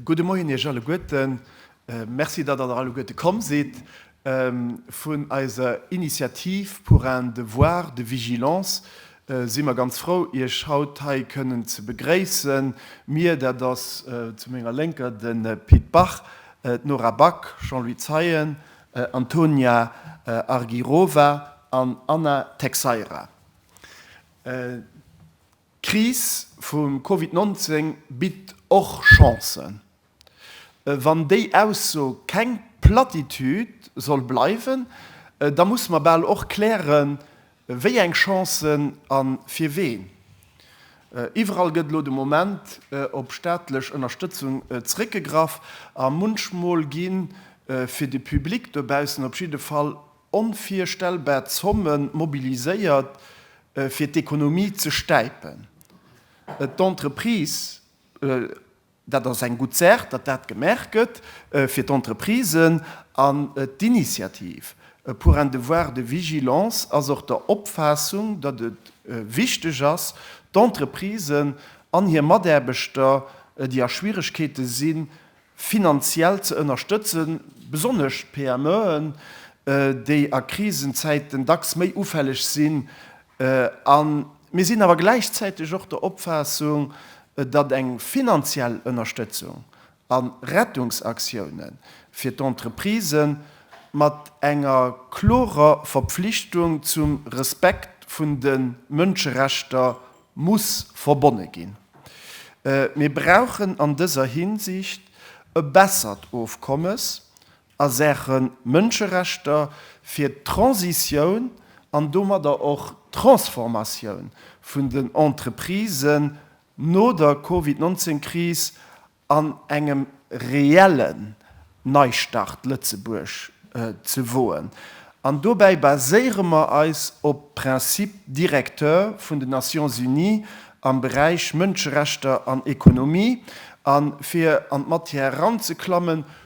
Gudde Moien Iech alleguerten. Merci, datt Der alleguerte komm sidd. Vun eiser Initiativ Pour un devoir de vigilance, si mer ganz frou, Iech haut hei kënnen ze begréissen. Mir, dat ass zu menger Lénker de Pit Bach, d'Nora Back, Jean-Louis Zeien, Antonia Argirova an Anna Texeira. D'Kris vum Covid 19 bitt och Chancen. Wann déi Ausso keng Platitude soll bleiwen, da musse mer bal och klären, wéi eng Chancen a fir ween. Iwwerall gëtt elo de Moment op staatlech Ënnerstëtzung zréckgegraff a munchmol gi fir de Public dobaussen op jidde Fall onvirstellbar Zomme mobiliséiert, fir d'Ekonomie ze stäipen. D'Entreprisë Dat ass eng gutt Saach, datt dat gemaach gëtt fir d'Entreprisen. An d'Initiative pour un devoir de vigilance ass och der Opfaassung, datt et wichteg ass, d'Entreprisen an hir Mataarbechter, déi a Schwieregkeete sinn, finanziell ze ënnerstëtzen, besonnesch d'PMEen, déi a Krisenzäiten dacks méi ufälleg sinn, A mir sinn awer gläichzäiteg och der Opfaassung, datt eng finanziell Ënnerstëtzung a Rettungsaktioune fir d'Entreprisë mat enger klorer Verpflichtung zum Respekt vun de Mënscherechter muss verbonne ginn. Mir brauchen an dëser Hinsicht e bessert Ofkommes a Saache Mënscherechter fir d'Transitioun an domadder och d'Transformatioun vun den Entreprisen no der Covid 19 Kris an engem reellen Neistart Lëtzebuerg ze woen. An dobäi baséiere mer eis op d'Principe directeur vun den Nations Unies am Beräich Mënscherechter an Ekonomie. A fir an d'Matière eranzeklammen,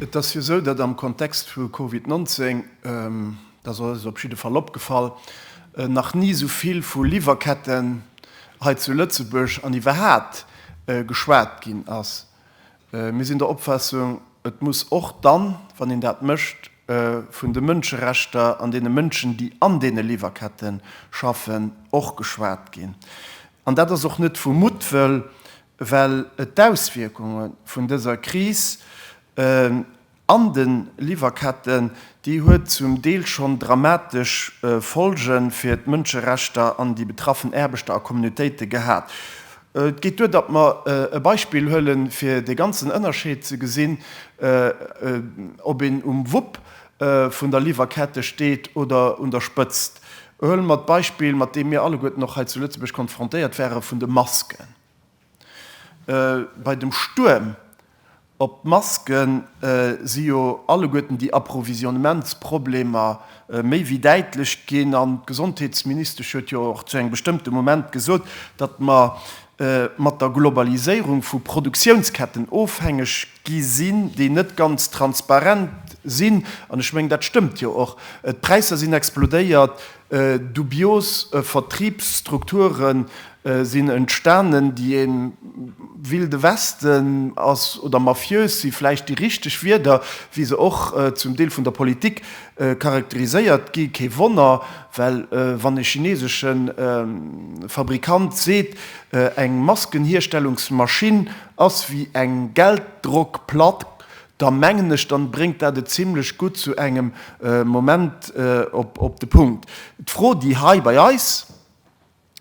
Et ass jo esou, datt am Kontext vu Covid 19, dat ass eis op jidde Fall opgefall, nach ni esou vill vu Liwwerketten hei zu Lëtzebuerg an iwwerhaapt geschwat ginn ass. Mir sinn der Opfaassung, et muss och dann, wann een dat mécht, vun de Mënscherechter an deene Mënschen, déi an deene Liwwerkette schaffen, och geschwat ginn. An dat ass och net vu Muttwëll, well et d'Auswierkunge vun dëser Kris an de Liwwerketten, déi huet zum Deel schonn dramatesch Folge fir d'Mënscherechter an déi betraffen Aarbechter a Communautéite gehat. Et geet duer, datt mer e Beispill huelen, fir dee ganzen Ënnerscheed ze gesinn, ob een um Wupp vun der Liwwerkette steet oder un der Spëtzt. Huele mer d'Beispill, mat deem mir alleguerten och hei zu Lëtzebuerg konfrontéiert ware vun de Masken. Bei dem Stuerm op d'Maske si jo alleguerten déi Approvisionnementsproblemer méi wéi däitlech ginn. An d'Gesondheetsministesch huet jo och zu engem bestëmmte Moment gesot, datt mer mat der Globaliséierung vu Produktiounsketten ofhängeg gi sinn, déi net ganz transparent sinn. An ech mengen, dat stëmmt jo och. D'Präisser sinn explodéiert. Dubios Vertriebsstrukture sinn entstanen, déi ee Wilde Westen ass, oder mafiös si vläicht déi richteg Wierder, wéi se och zum Deel vun der Politik charakteriséiert gi. Kee Wonner, well wann e chinesesche Fabrikant seet, eng Maskenhierstellungsmaschinn ass wéi eng Gelddrockplack, da mengen ech, da bréngt dat et zimlech gutt zu engem Moment op de Punkt. D'Fro, déi hei bei eis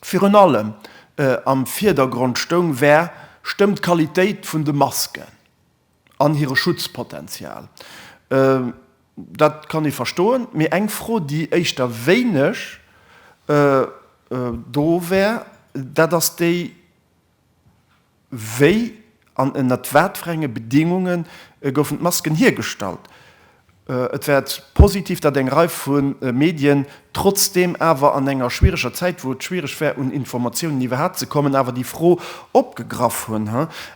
virun allem am Vierdergrond stoung, war, Stëmmt d'Qualitéit vun de Masken an hire Schutzpotenzial? Dat kann ee verstoen. Mee eng Fro, déi éischter wéineg do war, dat ass déi, Wéi an ënnert wat fir enge Bedingunge goufen d'Masken hiergestallt? Et wäert positiv, datt eng Rei vu Medien trotzdeem awer an enger schwiereger Zäit, wou et schwiereg wär un Informatiounen iwwerhaapt ze kommen, awer déi Fro opgegraff hunn.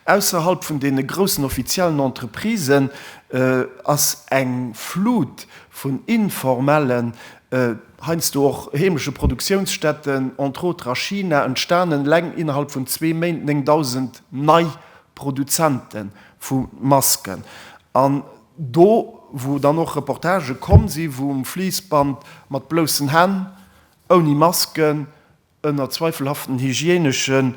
Ausserhalb vun deene groussen offiziellen Entreprisen ass eng Flut vun informellen, heiansdo och heemesche Produktiounsstätten, entre autres a China, entstanen eleng innerhalb vun zwee Méint 9.000 nei Produzente vu Masken. An do, wou dann och Reportagë komm sinn, wou um Fließband mat bloussen Hänn, ouni Masken, ënner zweifelhaften hygieenesche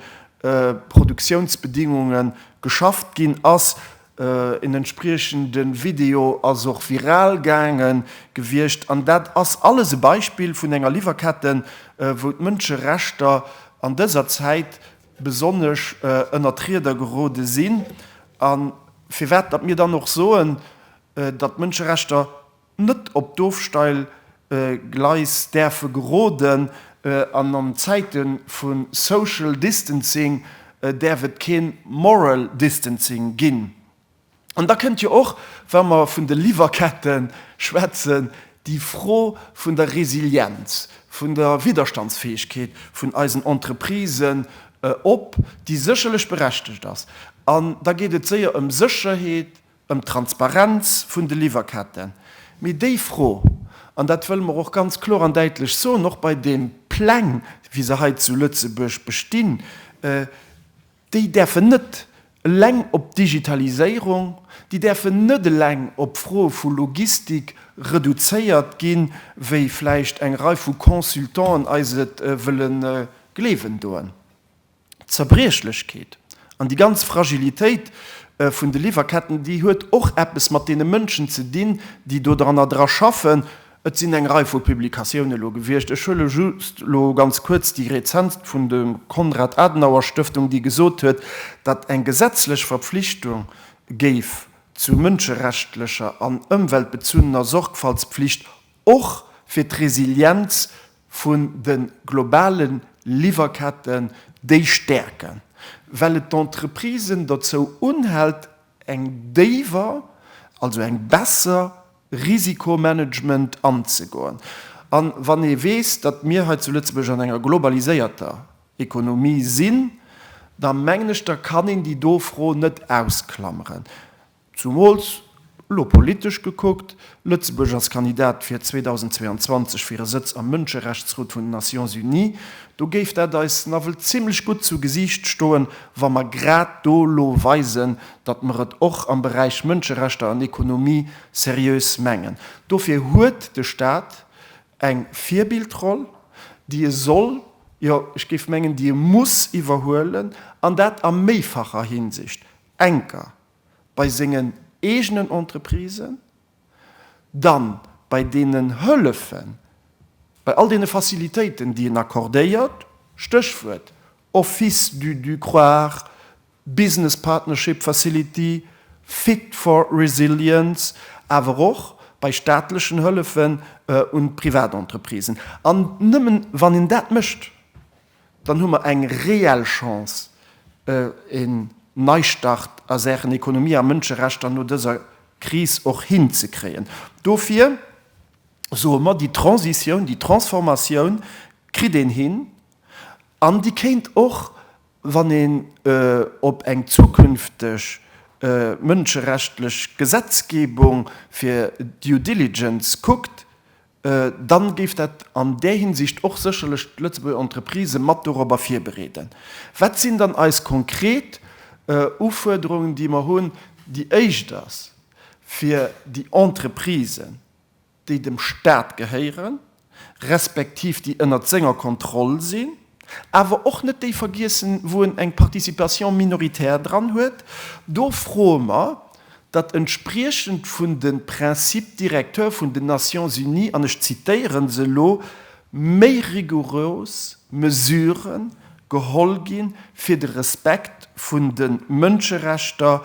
Produktiounsbedingunge geschafft ginn ass. En entspriechende Video ass och viral gaange gewiescht. An dat ass alles e Beispill vun enger Liwwerketten, wou d'Mënscherechter an dëser Zäit besonnesch ënner d'Rieder gerode sinn. A firwat datt mir dann och soen, datt d'Mënscherechter net op d'Ofsteil Gleis däerfe geroden an an Zäite vu Social Distancing däerf et kee Moral Distancing ginn. An da kënnt jo och, wa mer vun de Liwwerkette schwätzen, déi Fro vun der Resilienz, vun der Widderstandsfäegkeet vun eisen Entreprisen op, déi sécherlech berechtigt ass. An da geet et séier ëm Sécherheet, ëm d'Transparenz vun de Liwwerketten, mee déi Fro, an dat wëlle mer och ganz kloer an däitlech soen, och bei deem Pläng, wéi se hei zu Lëtzebuerg bestinn, déi däerfen net eleng op d'Digitaliséierung, déi däerfen net eleng op d'Froe vu Logistik reduzéiert ginn, wéi vläicht eng Rei vu Consultanten eis et wëlle gleewen doen. Zerbriechlechkeet an déi ganz Fragilitéit vun de Liwwerketten, déi huet och eppes mat deene Mënschen ze dinn, déi do dran dra schaffen. Et sinn eng Rei vu Publikatioune lo gewiescht, ech huele just elo ganz kuerz déi rezentst vun der Konrad-Adenauer-Stëftung, déi gesot huet, datt eng gesetzlech Verpflichtung géif zu mënscherechtlecher an ëmweltbezunnener Sorgfaltspflicht och fir d'Resilienz vun de globale Liwwerketten, déi stäerken, well et d'Entreprisen dozou unhält eng déiwer, also eng besser Risikomanagement anzegoen. A wann ee weess, datt mir hei zu Lëtzebuerg an enger globaliséierter Ekonomie sinn, da mengen ech, da kann een déi do Fro net ausklameren. Zumools, elo politesch gekuckt, Lëtzebuerg ass Kandidat fir 2022 fir e Sëtz am Mënscherechtsrot vun den Nations Unies. Do géif dat eis nawell zimlech gutt zu Gesiicht stoen, wa mer grad do elo weisen, datt mer et och am Beräich Mënscherechter an Ekonomie seriös mengen. Dofir huet de Stat eng Virbildroll, déi e soll, jo, ech géif mengen, déi e muss iwwerhuelen, an dat a méifacher Hinsicht, enker, bei sengen eegenen Entreprisen, dann bei deenen Hëllefen, bei all deene Facilitéiten, déi en accordéiert, Stéchwuert Office du du croire, Business Partnership Facility, Fit for Resilience, awer och bei staatlechen Hëllefen un d'Privatentreprisen. An nëmmen, wann een dat mécht, dann hu mer eng reell Chance, en Neistart a Saachen Ekonomie a Mënscherechter no dëser Kris och hinzekréien. Dofir soe mer, déi Transitioun, déi Transformatioun kritt een hin an déi kéint och, wann een op eng zukünfteg mënscherechtlich Gesetzgebung fir Due Diligence kuckt, dann géif dat an där Hinsicht och sécherlech d'Lëtzebuerger Entreprisë mat dorobber virbereeden. Wat sinn dann eis konkret Ufuerderungen, déi mer hunn? Déi éischt ass, fir déi Entreprisen, déi dem Stat gehéieren, respektiv déi ënnert senger Kontroll sinn, awer och net déi vergiessen, wou en eng Participation minoritaire dran huet, do froe mer, datt entspriechend vun de Principes directeurs vun den Nations Unies, an ech zitieren se elo, méi rigouros Mesurë geholl gi fir de Respekt vun de Mënscherechter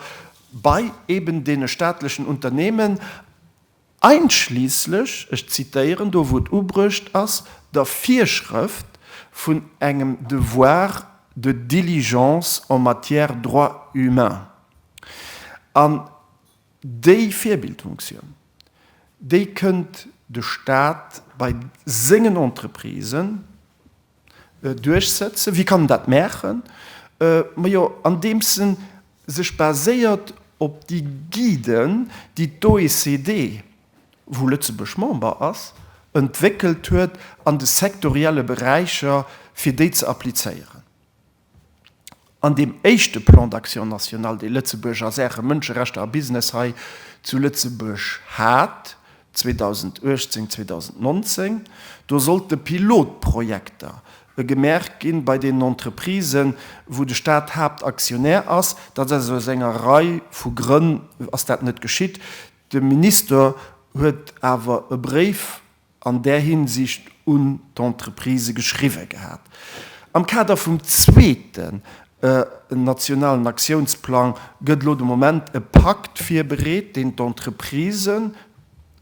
bei eben deene staatlechen Unternehmen. Einschließlich, ech zitieren do wou et ubruecht ass, der Virschrëft vun engem Devoir de diligence en matière droits humains. An déi Virbildfunktion, déi kënnt de Stat bei sengen Entreprisen, duerchsetzen, wie kann dat maachen? Majo, andeems en sech baséiert op déi Guiden, déi d'OECD, wou Lëtzebuerg Member ass, entwéckelt huet an de sektorielle Beräicher, fir déi ze applizéieren. An deem éischte Plan d'action national, dee Lëtzebuerg a Saache Mënscherechter a Business hei zu Lëtzebuerg hat, 2018, 2019, do sollte Pilotprojekter gemaach ginn bei deenen Entreprisen, wou de Stat Haaptaktionär ass. Dat ass aus enger Rei vu Grënn ass dat net geschitt. De Minister huet awer e Bréif an där Hinsicht un d'Entreprisë geschriwwe gehat. Am Kader vum zweeten nationalen Aktiounsplang gëtt elo de Moment e Pakt virbereet, deen d'Entreprisë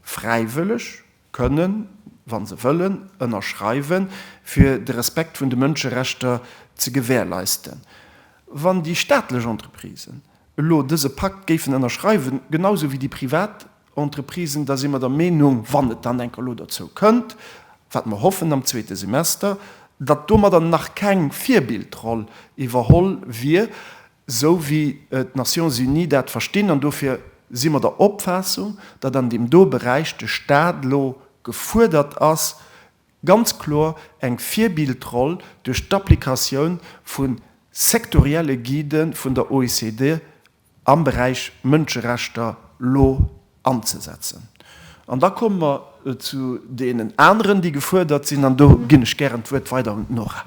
fräiwëlleg kënnen, wa se wëllen, ënnerschreiwen, fir de Respekt vun de Mënscherechter ze gewährleisten. Wann déi staatlech Entreprisen elo dëse Pakt géifen ënnerschreiwen, genau esou wéi déi privat, Entreprisen, da si mer der Meenung, wann et dann enk elo derzou kënnt, wat mer hoffen am zweete Semester, datt domadder nach keng Virbildroll iwwerholl wier, esou wéi d'Nations unies dat verstinn. An dofir si mer der Opfaassung, datt an deem do Beräich de Stat elo gefuerdert ass, ganz kloer eng Virbildroll duerch d'Applikatioun vu sektorielle Guidë vun der OECD am Beräich Mënscherechter lo anzesetzen. An da komme mer zu deenen aneren, déi gefuerdert sinn, an do ginn ech gären d'Wuert weider un d'Nora.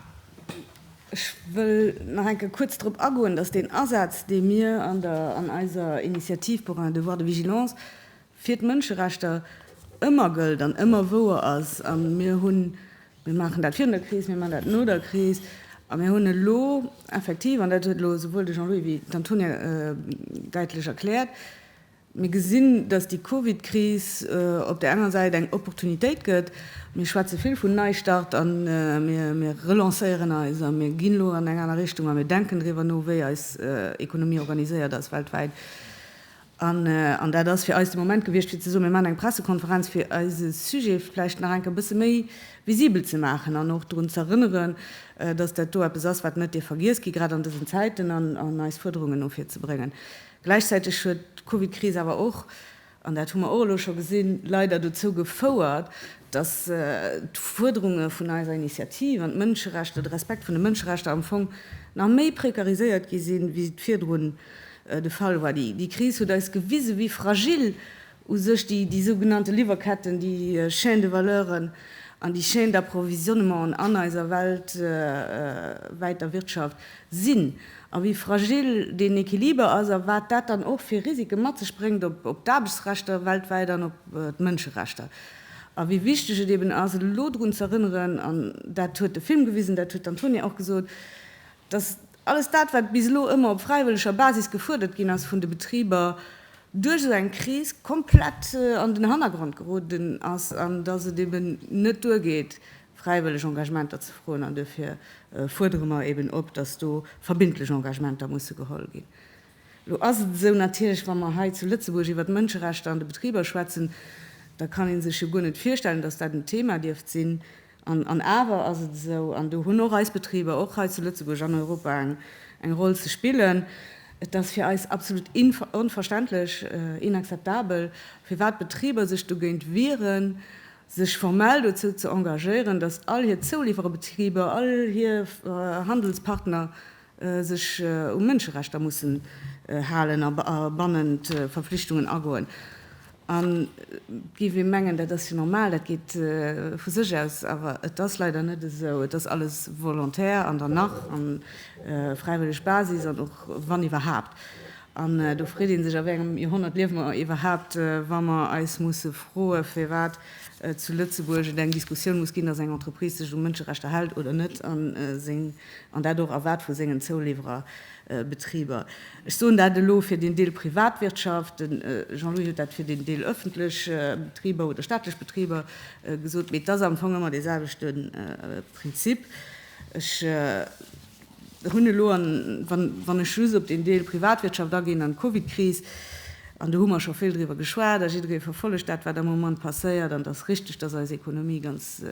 Ech wëll nach eng Kéier kuerz drop agoen, dass deen Asaz, dee mir an eiser Initiativ pour un devoir de vigilance fir d'Mënscherechter ëmmer gëllt an ëmmer wouer ass, a mir hunn, mir maachen dat virun der Kris, mir maachen dat no der Kris, a mir hunn elo effektiv, an dat huet elo souwuel de Jean-Louis wéi d'Antonia däitlech erkläert, mir gesinn, datt déi Covid-Kris op där enger Säit eng Opportunitéit gëtt, mir schwätze vill vun Neistart a mir relancéieren eis a mir ginn elo an eng aner Richtung a mir denken driwwer no, wéi eis Ekonomie organiséiert ass weltwäit. An dat ass fir eis de Moment gewiescht, fir ze soen, Mir maachen eng Pressekonferenz, fir eise Sujet vläicht nach eng Kéier e bësse méi visibel ze maachen an och drun z'erënneren, dass dat do eppes ass, wat net dierf vergiess gi grad an dësen Zäiten, an eis Fuerderungen no vir ze bréngen. Gläichzäiteg huet d'Covidkris awer och, an dat hu mer och elo scho gesinn, leider dozou gefouert, dass d'Fuerderunge vun eiser Initiativ an d'Mënscherechter, de Respekt vun de Mënscherechter am Fong nach méi prekariséiert gi sinn, wéi se et virdrun de Fall war. Déi Kris huet eis gewisen, wéi fragil u sech déi sougenannte Liwwerketten, déi Chaîne de valeuren an déi Chaîne d'approvisionnement an eiser weltwäiter Wirtschaft sinn a wéi fragil deen Equiliber ass a wat dat dann och fir Risike mat sech bréngt op d'Aarbechtsrechter weltwäit an op d'Mënscherechter. A wéi wichteg et eben ass, elo drun z'erënneren, an dat huet de Film gewisen, dat huet d'Antonia och gesot, dass alles dat, wat bis elo ëmmer op fräiwëlleger Basis gefuerdert ginn ass vun de Betriber, duerch esou eng Kris komplett an den Hannergrond geroden ass an dass et eben net duergeet, fräiwëlleg Engagementer ze froen. An duerfir fuerdere mer eben op, dass do verbindlech Engagementer musse geholl ginn. Elo ass et esou, natierlech, wa mer hei zu Lëtzebuerg iwwert d'Mënscherechter an de Betriber schwätzen, da kann ee sech jo guer net virstellen, dass dat en Thema dierft sinn, An awer ass et esou, an do hunn och eis Betriber, och hei zu Lëtzebuerg, an Europa eng Roll ze spillen, et ass fir eis absolut onverständlech, inakzeptabel, firwat d'Betriber sech dogéint wieren, sech formell dozou ze engagéieren, datt all hir Zouliwwerebetriber, all hir Handelspartner sech u Mënscherechter mussen halen a bannent Verflichtungen agoen. An et géif ee mengen, dat ass jo normal, dat geet vu sech aus, awer et ass leider net esou. Et ass alles volontaire an dann nach a fräiwëlleg Basis an och wann iwwerhaapt. An do freet ee sech, a wéi engem Joerhonnert liewe mer iwwerhaapt, wa mer eis musse froe firwat zu Lëtzebuerg et eng Diskussioun muss ginn, datt eng Entreprise sech u Mënscherechter hält oder net a seng An dat och erwaart vu sengen Zouliwwererbetriber. Ech soen dat elo fir deen Deel Privatwirtschaft. De Jean-Louis huet dat fir deen Deel öffentlech Betriber oder staatlech Betriber gesot. Mee et ass am Fong ëmmer dee selwechte Prinzip. Ech hunn elo, wann ech just op deen Deel Privatwirtschaft aginn an d'Covidkris, an do hu mer scho vill driwwer geschwat a jidderee verfollegt dat, wat am Moment passéiert. An et ass richtig, dass eis Ekonomie ganz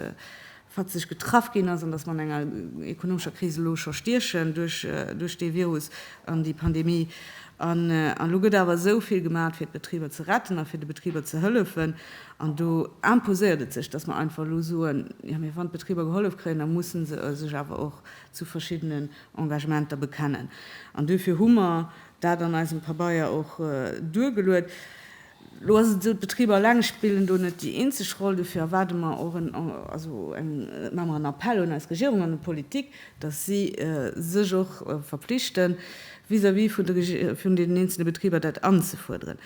fatzeg getraff ginn ass an dass mer an enger ekonomescher Kris elo scho stiechen duerch dee Virus an déi Pandemie. An elo gëtt awer esou vill gemaat, fir d'Betriber ze retten a fir de Betriber ze hëllefen. An do imposéiert et sech, dass mer einfach elo soen, Jo, mee wann d'Betriber gehollef kréien, da musse se sech awer och zu verschiddenen Engagementer bekennen. An duerfir hu mer dat an eisem Pabeier och duergeluet. Elo ass et esou, d'Betriber eleng spillen do net déi eenzeg Roll. Dofir erwaarde mer och en, also eng, maache mer en Appell un eis Regierung an un d'Politik, datt si sech och verpflichten, vis-à-vis vun de, vun deenen eenzele Betriber dat anzefuerderen.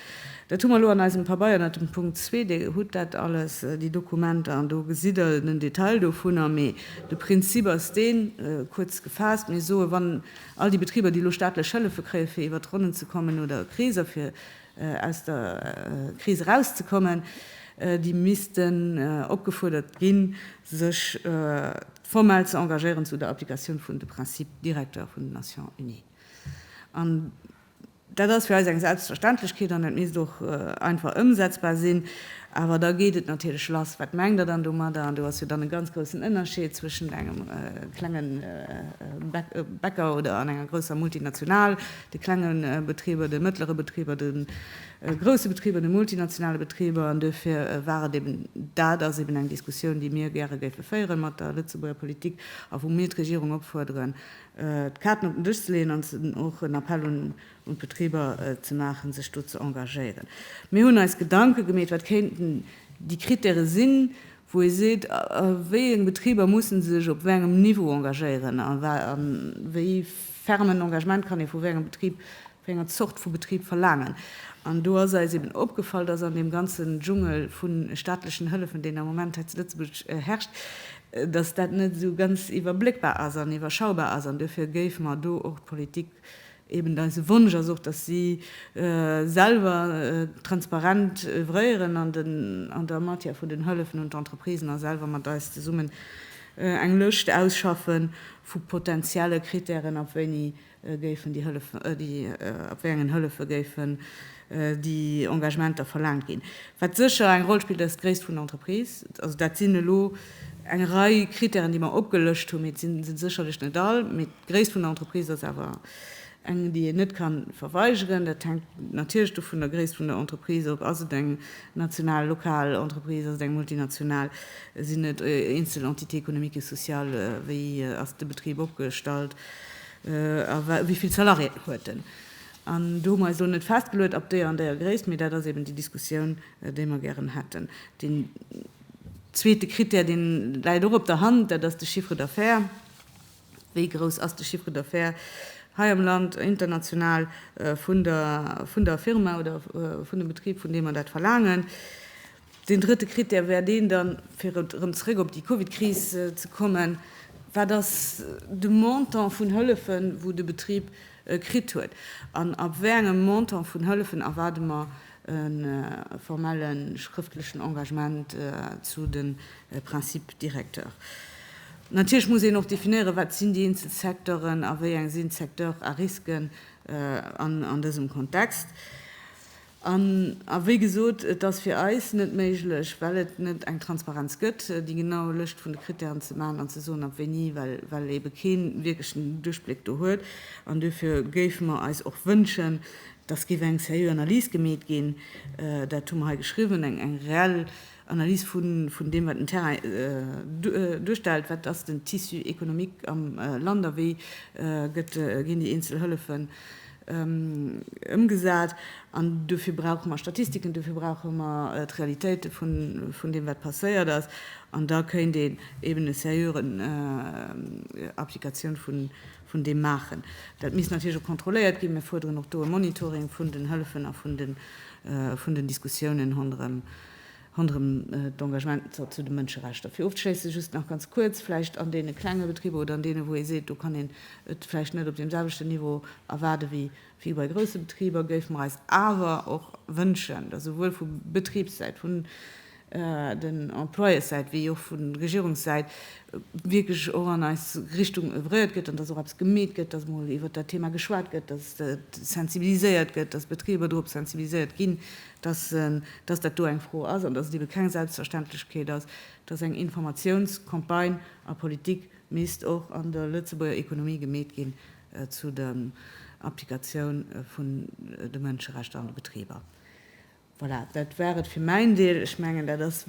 Dat hu mer elo an eisem Pabeier ënnert dem Punkt 2. Dir hutt dat alles, déi Dokumenter, an do gesitt Der den Detail dovunner. Mee de Prinzip ass deen, kuerz gefaasst, Mir soen, wann all déi Betriber, déi elo staatlech Hëllefe kréien, fir iwwert d'Ronnen ze kommen, oder Kreeser, fir aus der Kris erauszekommen, déi missten opgefuerdert ginn, sech formell ze engagéieren zu der Applikatioun vun de Principes directeurs vun den Nations Unies. An dat ass fir eis eng Selbstverständlechkeet an dat misst och einfach ëmsetzbar sinn. Awer da geet et natierlech lass, Wat mengt Der dann domadder? An do ass jo dann e ganz groussen Ënnerscheed zwëschent engem klenge Bäcker oder an enger grousser Multinational. de klenge Betriber, de mëttlere Betriber, de grousse Betriber, de multinationale Betriber. An duerfir war et eben, dat ass eben eng Diskussioun, déi mir gäre géife féiere mat der Lëtzebuerger Politik a wou mir d'Regierung opfuerderen, d'Kaarten op den Dësch ze leeën an och en Appell un d'Betriber ze maachen, sech do ze engagéieren. Mir hunn eis Gedanke gemeet, wat kéinten déi Krittäre sinn, wou ee seet, wéi eng Betriber mussen sech op wéi engem Niveau engagéieren a wéi ferm en Engagement kann ee vu wéi engem Betrib, wéi enger Zort vu Betrib verlaangen. An do ass eis eben opgefall, dass an deem ganzen Dschungel vu staatlechen Hëllefen, deen am Moment hei zu Lëtzebuerg herrscht, dass dat net esou ganz iwwerbléckbar ass an iwwerschaubar ass. An duerfir géife mer do och d'Politik Eben eise Wonsch ass och, dass si selwer transparent oeuvréieren an der Matière vun den Hëllefen un d'Entreprisen a selwer mat eis zesummen eng Lëscht ausschaffe vu potentielle Krittären, ab wéini géifen déi Hëllefen, ab wéi engen Hëllefe géifen déi Engagementer verlaangt ginn. Wat sécher eng Roll spillt, ass d'Gréisst vun der Entreprise. Also dat sinn elo eng Rei Krittären, déi mer opgelëscht hunn, mee et si se sécherlech net all. D'Gréisst vun der Entreprise ass awer eng, déi een net ka verweigeren. Dat hänkt natierlech du vun der Gréisst vun der Entreprise of. Ass et eng national, lokal Entreprise? Ass et eng multinational? Sinn et eenzel Entités économiques et sociales? Wéi ass de Betrib opgestallt? A wéi vill Salariéen huet en? An do hu mer eis elo net festgeluet ab deeër an deeër Gréisst, mee dat ass eben déi Diskussioun, déi mer gären hätten. Deen zweete Krittär, dee läit och op der Hand, dat ass de Chiffre d'affaires. Wéi grouss ass de Chiffre d'affaires hei am Land, international, vun der, vun der Firma oder vun dem Betrib, vun deem mer dat verlaangen? Deen drëtte Krittär wär deen dann, fir erëm zeréck op déi Covid-Kris ze kommen, Wat ass de Montant vun Hëllefen, wou de Betrib kritt huet? An ab wéi engem Montant vun Hëllefen erwaarde mer e formelle schrëftlechen Engagement zu de Principes directeurs. Natierlech muss een och definéieren, wat sinn déi eenzel Secteuren a wéi eng sinn d'Secteurs à risque an dësem Kontext. An wéi gesot, et ass fir eis net méiglech, well et net eng Transparenz gëtt, déi genau Lëscht vun de Krittären ze maachen an ze soen, ab wéini, well eebe kee wierklechen Duerchbléck do huet. An duerfir géife mer eis och wënschen, dass géif eng seriö Analys gemeet ginn, dat hu mer hei geschriwwen, eng reell Analys vun deem, wat den Terrain duerstellt, wat ass den Tissu économique am Land a wéi ginn déi eenzel Hëllefen ëmgesat. An dofir brauche mer Statistiken, dofir brauche mer d'Realitéite vun deem, wat passéiert ass. An da kéint een eeben e seriören Applikatioun vun deem maachen. Dat misst natierlech och kontrolléiert ginn. Mir fuerderen och do e Monitoring vun den Hëllefen a vun den Diskussiounen ronderëm d'Engagementer zu de Mënscherechter. Fir ofzeschléisse just nach ganz kuerz, vläicht an deene klenge Betriber oder an deene wou ee seet, do kann een et vläicht net op deem selwechten Niveau erwaarde wéi bei grousse Betriber, géife mer eis awer och wënschen, datt esouwuel vu Betribssäit, vun den Employeurssäit wéi och vun Regierungssäit wierklech och an eis Richtung oeuvréiert gëtt an dass och eppes gemeet gëtt, dass emol iwwert dat Thema geschwat gëtt, dass et sensibiliséiert gëtt, dass d'Betriber dorop sensibiliséiert ginn, dass dat do eng Fro ass an dass et ebe keng Selbstverständlechkeet ass, dass eng Informatiounscampagne a Politik misst och an der Lëtzebuerger Ekonomie gemeet ginn zu der Applikatioun vun de Mënscherechter an de Betriber. Voilà, dat war et fir mäin Deel. Ech mengen, dat ass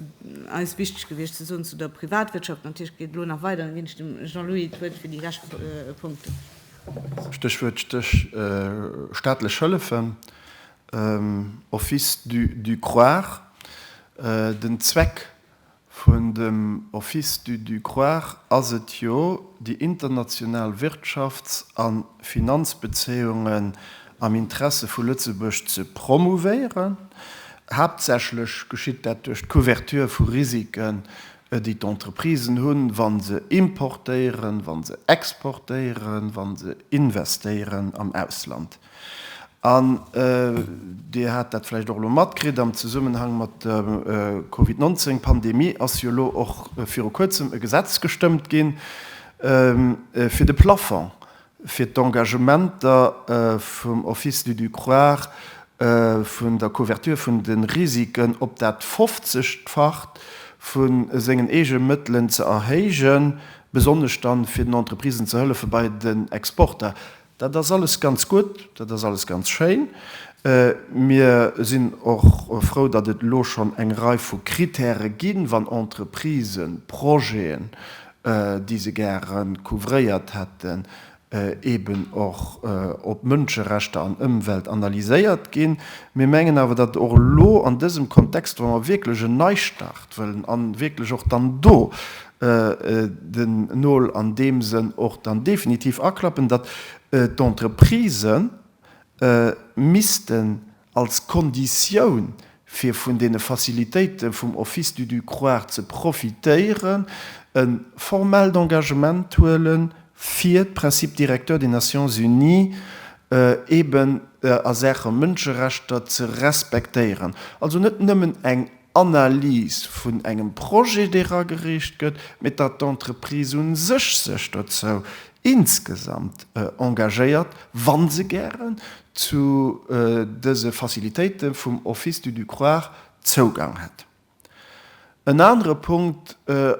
eis wichteg gewiescht ze soen zu der Privatwirtschaft. Natierlech geet et elo nach weider, an da ginn ech dem Jean-Louis d'Wuert fir déi lescht Punkten. Stéchwuert staatlech Hëllefen, Office du croire. Den Zweck Vun dem Office du du croire ass et jo déi international Wirtschafts a Finanzbezéiungen am Interesse vu Lëtzebuerg ze promouvéieren. Haaptsächlech geschitt dat duerch d'Couverture vu Risiken, déi d'Entreprisen hunn, wa se importéieren, wa se exportéieren, wa se investéieren am Ausland. An Dir hat dat vläicht och elo matkritt, am Zesummenhang mat der Covid 19 Pandemie ass jo elo och viru Kuerzem e Gesetz gestëmmt ginn, fir de Plafong fir d'Engagementer vum Office du Ducroire vun der Couverture vun de Risiken op dat fofzegfacht vu sengen eege Mëttelen ze erhéijen, besonnesch dann, fir den Entreprisen ze hëllefe bei den Exporter. Dat ass alles ganz gutt, dat ass alles ganz schéin. Mir sinn och frou, datt et elo schonn eng Rei vu Kritäre ginn, wann Entreprisen Projeten, déi se gäre couvréiert hätten, eeben och op Mënscherechter an Ëmwelt analyséiert ginn. Mir mengen awer, datt och elo an dësem Kontext, wa mer wierklech en Neistart wëllen a wierklech och dann do den Nol an deem Sënn och dann definitiv aklappen, datt d'Entreprisë missten als Konditioun, fir vun deene Facilitéite vum Office du Ducroire ze profitéieren, e formellt Engagement huele fir d'Principes directeurs des Nations unies eben a Saache Mënscherechter ze respektéieren. Also net nëmmen eng Analyse vun engem Projet, dee eragereecht gëtt, mee datt d'Entreprise u sech sech dozou insgesamt engagéiert, wa se gären zu dëse Facilitéite vum Office du Ducroire Zougang hätt. En anere Punkt,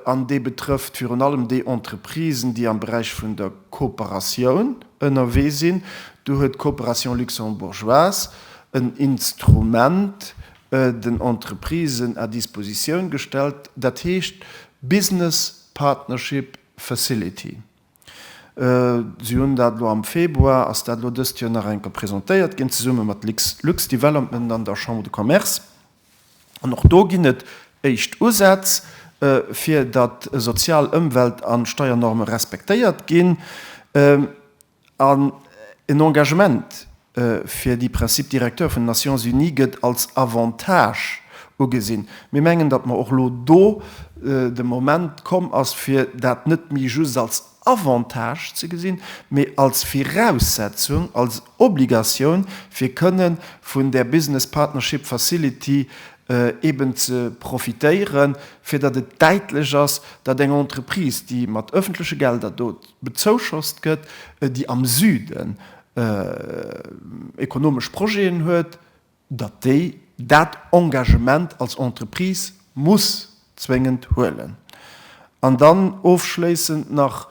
an dee betrëfft virun allem déi Entreprisen, déi am Beräich vun der Kooperatioun ënnerwee sinn, do huet d'Coopération luxembourgeoise en Instrument, den Entreprisen à disposition gestellt, dat heescht Business Partnership Facility. Si hunn dat elo am Februar, ass dat elo dëst Joer nach eng Kéier presentéiert ginn, zesumme mat Lux Development an der Chambre de Commerce. An och do ginn et éischt Usätz, fir datt Sozial-, Ëmwelt a Steiernorme respektéiert ginn. An en Engagement fir déi Principes directeurs vun den Nations Unies gëtt als Avantage ugesinn. Mir mengen, datt mer och elo do de Moment komm ass, fir dat net méi just als Avantage ze gesinn, mee als Viraussetzung, als Obligatioun, fir kënne vun där Business Partnership Facility eeben ze profitéieren, fir datt et däitlech ass, datt eng Entreprise, déi mat öffentleche Gelder do, bezouschoss gëtt, déi am Süden ekonomesch Projeten huet, datt déi dat Engagement als Entreprise muss zwéngend huelen. An dann ofschléissend nach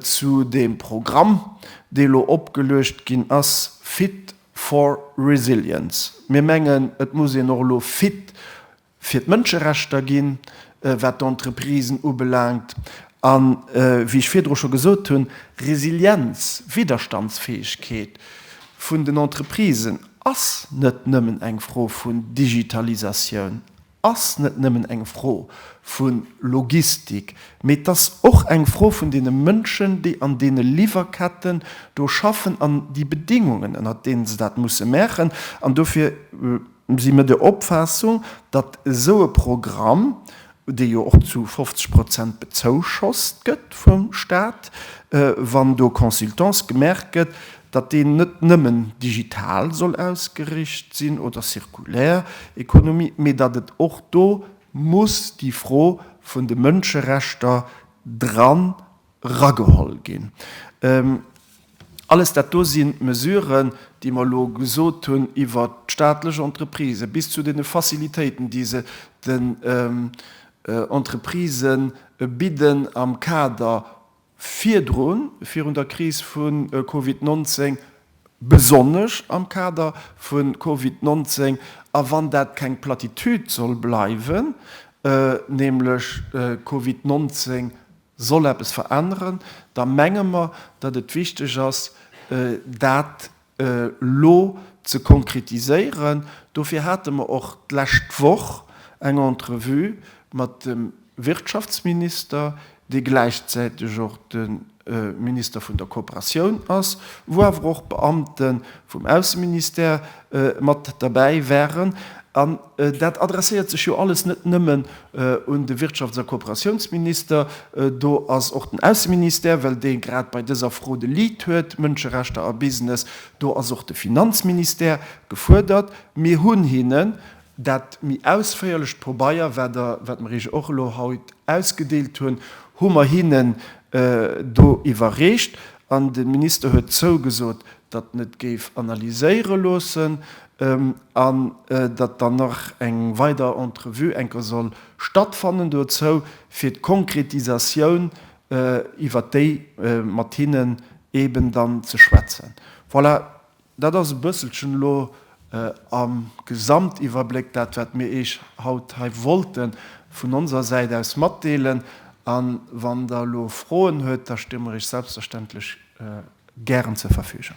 zu deem Programm, dee elo opgeluecht ginn ass, Fit for Resilience. Mir mengen, et muss een och elo fit fir d'Mënscherechter ginn, wat d'Entreprisen ubelaangt, a wéi ech virdru scho gesot hunn, Resilienz, Widderstandsfäegkeet vun den Entreprisen ass net nëmmen eng Fro vun Digitalisatioun, ass net nëmmen eng Fro vu Logistik, mee 't ass och eng Fro vun deene Mënschen, déi an deene Liwwerketten do schaffen an déi Bedingungen, ënnert deene se dat musse maachen. An dofir. Mir si der Opfaassung, datt esou e Programm, dee jo och zu 50 Prozent bezouschost gëtt vum Staat, wann do Consultance gemaach gëtt, datt deen net nëmmen digital soll ausgericht sinn oder zirkulär Ekonomie, mee datt et och do muss déi Fro vun de Mënscherechter dran, erageholl ginn. Alles dat do sinn d'Mesuren, déi mer elo gesot hunn iwwert d'staatlech Entreprisë bis zu deene Facilitéiten, déi se den Entreprisë bidden am Kader virdrun, virun der Kris vu Covid 19, besonnesch am Kader vu Covid 19. A wann dat keng Platitüd soll bleiwen, nämlech Covid 19 soll eppes veränneren, da menge mer, datt et wichteg ass, dat elo ze konkretiséieren. Dofir hate mer och d'lescht Woch eng Entrevue mat dem Wirtschaftsminister, dee gläichzäiteg och de Minister vun der Kooperatioun ass, wou awer och Beamte vum Ausseministère, mat derbäi waren. An dat adresséiert sech jo alles net nëmmen un de Wirtschafts a Kooperatiounsminister, do ass och den Ausseministère, well dee grad bei dëser Fro de Lead huet, Mënscherechter a Business, do ass och de Finanzministère gefuerdert. Mir hunn hinnen Dat méi ausféierlecht Pobeier, wat der, wat mer iech och elo haut ausgedeelt hunn, hu mer hinnen do iwwerreecht. An de Minister huet zougesot, datt en et géif analyséiere loossen an datt dann nach eng weider Entrevue enker soll stattfannen dozou, fir d'Konkretisatioun, iwwert déi mat hinnen eeben dann ze schwätzen. Voilà, Dat ass e bësselchen elo am Gesamtiwwerbléck dat, wat mir Iech haut hei wollte vun onser Säit aus matdeelen. A wann Der elo Froen huet, da sti mir Iech selbstverständlech gären zur Verfügung.